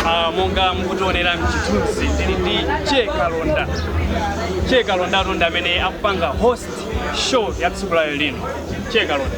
Ah, monga mukutionera mchithunzi ndili ndi che kalonda che kalondatu ndi amene akupanga host show ya tsiku la lero lino che kalonda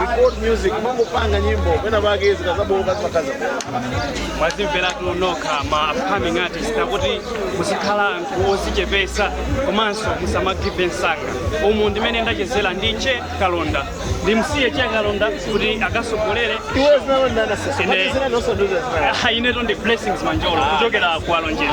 record music mangopanga nyimbo pena pake zikazabooka zikaza mwazimveratu nokha ma upcoming artist ndakuti muzikhala anthu ozichepesa komanso musamagive up msanga umu ndimene ndachezera ndi che kalonda ndimsiye che kalonda kuti akasogolere iwe zinalondanasesa Ine- inetu ndi blessings manjolo kuchokera ku alonjezi